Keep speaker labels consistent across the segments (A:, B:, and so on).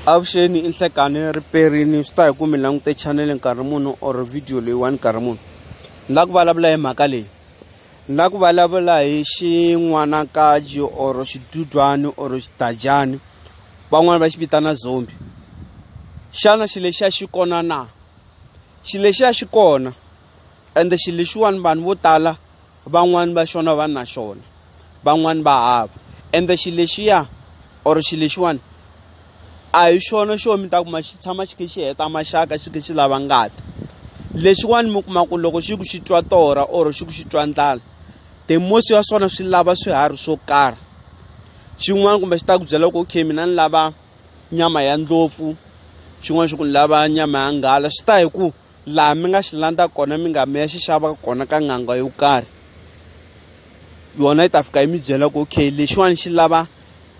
A: avuxeni i nhlekani riperini swi ta hi ku mi langute chanele nkarhi munhu or video leyiwani nkarhi munhu ni la ku vulavula hi mhaka leyi ni la ku vulavula hi xin'wanakaji or xidudyani or xidadyani van'wani va xi vitana zombi xana xi lexiya xi kona na xi lexiya xi kona ende xi lexiwani vanhu vo tala van'wani va xona va na xona van'wani va hava ende xilo lexiya or xilo lexiwani a hi xona xo mi ta kuma xi tshama xi khe xi heta maxaka xi khe xi lava ngati lexiwani mi kuma ku loko xi ku xi twa torha or xi ku xi twa ndlala the most ya swona swi lava swiharhi swo karhi xin'wana kumbe xi ta ku byela ku okay mina ni lava nyama ya ndlopfu xin'wana xi ku ni lava nyama ya nghala swi ta hi ku laha mi nga xi landza kona mi nga mi ya xi xava kona ka n'anga yo karhi yona yi ta fika yi mi byela ku okay lexiwani xi lava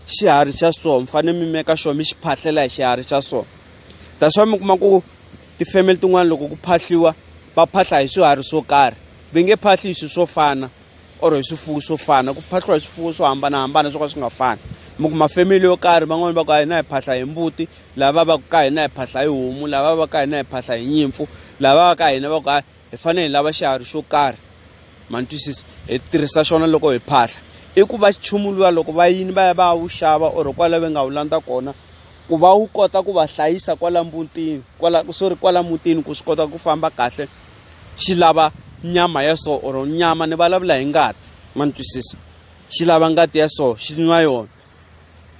A: xiharhi xa so mi fanele mi meka xona mi xi phahlela hi xiharhi xa so that's why mi kuma ku ti-family tin'wani loko ku phahliwa va phahla hi swiharhi swo karhi va nge phahli hi swi swo fana or hi swifuwo swo fana ku phahliwa hi swifuwo swo hambanahambana swo ka swi nga fani mi kuma family yo karhi van'wani va ku a hina hi phahla hi mbuti lava va ku ka hina hi phahla hi homu lava va ka hina hi phahla hi nyimpfu lava va ka hina va ku a hi fanele hi lava xiharhi xo karhi ma ni twisisa hi tirhisa xona loko hi phahla i ku va nchumu luwa loko va yini va ya va ya wu xava or kwala va nga wu landza kona ku va wu kota ku va hlayisa kwala mutini kwala sorry kwala mutini ku swi kota ku famba kahle xi lava nyama ya so or nyama ni vulavula hi ngati ma ni twisisa xi lava ngati ya so xi nwa yona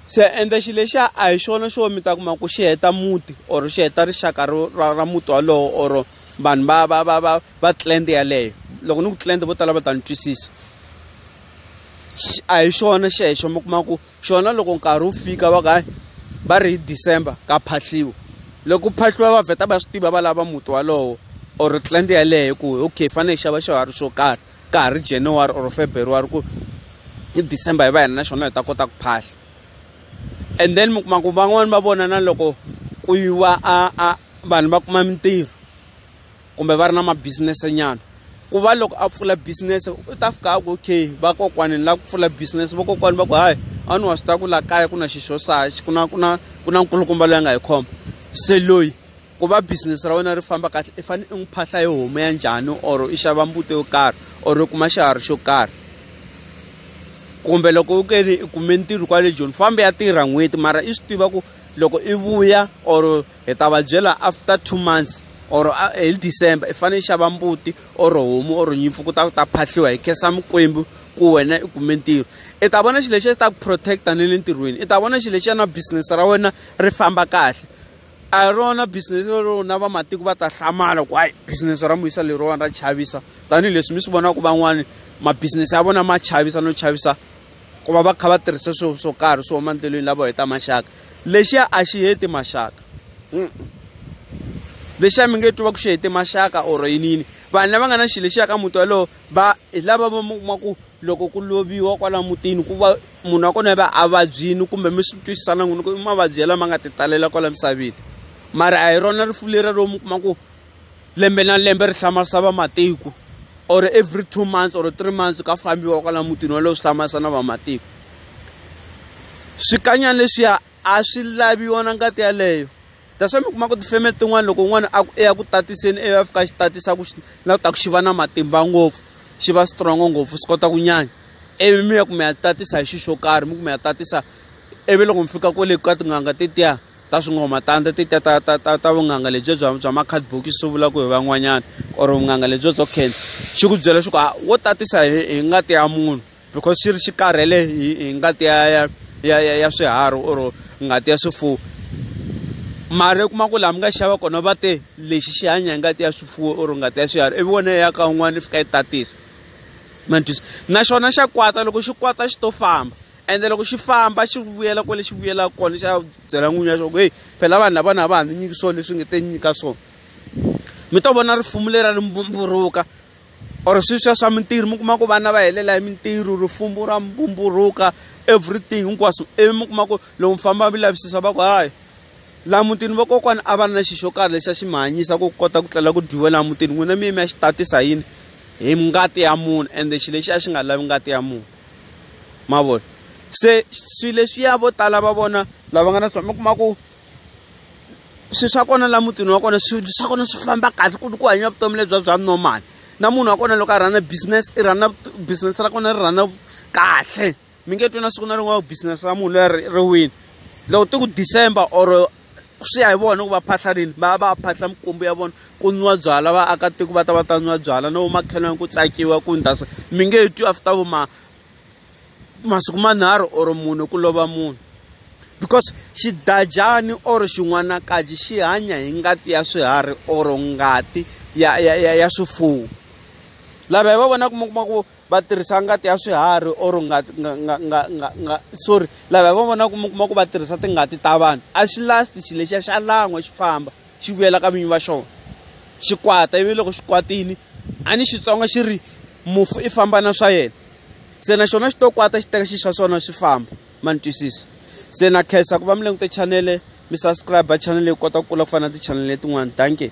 A: se ende xi lexiya a hi xona xo mi ta kuma ku xi heta muti or xi heta rixaka ra ra muti walowo or vanhu va va va va va clan yaleyo loko ni ku clan vo tala va ta ni twisisa a hi xona xexo mi kuma ku xona loko nkarhi wu fika va ka va ri hi december ka phahliwa loko ku phahliwa va vheta va swi tiva va lava muti walowo or clan yeleyo ku okay fanele hi xava xiharhi xo karhi ka ha ri january or february ku hi december hi va hina na xona hi ta kota ku phahla and then mi kuma ku van'wani va vona na loko ku yiwa a a vanhu va kuma mintirho. kumbe va ri na mabisinese nyana ku va loko a pfula business u ta fika a ku okay vakokwani ni lava ku pfula business vakokwani va ku hayi a ni wa swi tiva ku laha kaya ku na xi xo sa ku na ku na ku na nkulukumba loyi a nga hi khoma se loyi ku va business ra wena ri famba kahle i fanele i n'wi phahla hi homu ya njhani or i xava mbuti yo karhi or i kuma xiharhi xo karhi kumbe loko u ke ni i kume ntirho kwale joni fambe ya tirha n'hweti mara i swi tiva ku loko i vuya or hi ta va byela after two months or hi december i fanele i xava mbuti or homu or nyimpfu ku ta ku ta phahliwa hi khensa mikwembu ku wena i kume ntirho i ta vona xilo lexi xi ta ku protect-a ni le ntirhweni i ta vona xilo lexi ya na business ra wena ri famba kahle a hi rona business lero na vamatiko va ta hlamala ku hayi business ra muyisa leriwani ra chavisa tanihileswi mi swi vonaka van'wani mabusiness ya vona ma chavisa no chavisa ku va va kha va tirhisa swilo swo karhi swo huma endlelweni lavo heta maxaka lexiya a xi heti maxaka lexiya mi nge twi va ku xi hete maxaka or yini yini vanhu lava nga na xilo lexiya ka muti walowo va hi lava va mi kuma ku loko ku loviwa kwala mutini ku va munhu wa kona va a vabyini kumbe mi swi twisisana n'wini ku i mavabyi ya lama nga ti talela kwala misaveni mara a hi rona rifu lera ro mi kuma ku lembe na lembe ri hlamarisa vamatiko or every two months or three months ka fambiwa kwala mutini walowo swi hlamarisa na vamatiko swikanyana leswiya a swi laviwa na ngati yaleyo that's why mi kuma ku tifeme tin'wana loko un'wana a ku eya ku tatiseni eyo a fika xi tatisa ku na ku ta ku xi va na matimba ngopfu xi va strong ngopfu swi kota ku nyanya ivi mi ya ku mi ya tatisa hi xi xo karhi mi ku mi ya tatisa ivi loko mi fika kwale ka tin'anga tetiya ta swingoma tandza ti ta ta ta ta ta vunghanga lebyi bya bya ma-card box swi vulaka hi van'wanyana or vunghanga lebyi byo khensa xi ku byela leswaku a wo tatisa hi hi ngati ya munhu because xi ri xi karhele hi hi ngati ya ya ya ya ya swiharhi or ngati ya swifuwo mara u kuma ku laha mi nga xava kona va te lexi xi hanya hi ngati ya swifuwo or ngati ya swiharhi ivi wona ya ka un'wana yi fika yi tatisa ma ni twisa na xona xa kwata loko xi kwata xi to famba ende loko xi famba xi vuyela kwale xi vuyelaka kona xi ya byela n'winyi ya xona ku heyi phela vanhu lavana a va ha ndzi nyiki swona leswi nge te nyika swona mi to vona rifumu leri a ri mbumburuka or sweswiya swa mintirho mi kuma ku vana va helela hi mintirho rifumu ra mbumburuka everything hinkwaswo ivi mi kuma ku loko mi famba mi lavisisa va ku hayi laha mutini vakokwana a va ri na xi xo karhi lexi a xi mi hanyisa ku kota ku tlela ku dyiwe laha mutini n'wina mi ye mi ya xi tatisa yini hi ngati ya munhu ende xi lexi a xi nga lavi ngati ya munhu ma vona se swi leswiya vo tala va vona lava nga na swona mi kuma ku swi swa kona la mutini wa kona swi swa kona swi famba kahle ku ku hanya vutomi lebya bya normal na munhu wa kona loko a rhana business i rhana business ra kona ri rhana kahle mi nge twi na siku na rin'wana business ra munhu leri ri wini loko ti ku december or swi ya hi vona ku va phahla rini va va phahla mikwembu ya vona ku nwiwa byalwa vaakatiko va ta va ta nwiwa byalwa no makhelwani ku tsakiwa ku ndla so mi nge twi after vo ma masiku manharhu or mune ku lova munhu because xidadyani or xin'wanakaji xi hanya hi ngati ya swiharhi or ngati ya ya ya ya swifuwo lava hi va vonaka mi kuma ku va tirhisa ngati ya swiharhi or ngati nga nga nga nga nga sorry lava hi va vonaka mi kuma ku va tirhisa tingati ta vanhu a xi lasti xilo lexiya xa lan'wa xi famba xi vuyela ka vinyi va xona xi kwata ivi loko xi kwatini a ni xitsonga xi ri mufu i famba na swa yena se na xona xi to kwata xi teka xi xa swona swi famba ma ni twisisa se na khensa ku va mi langute chanele mi subscribe chanele yi kota ku kula ku fana na tichanele letin'wana danke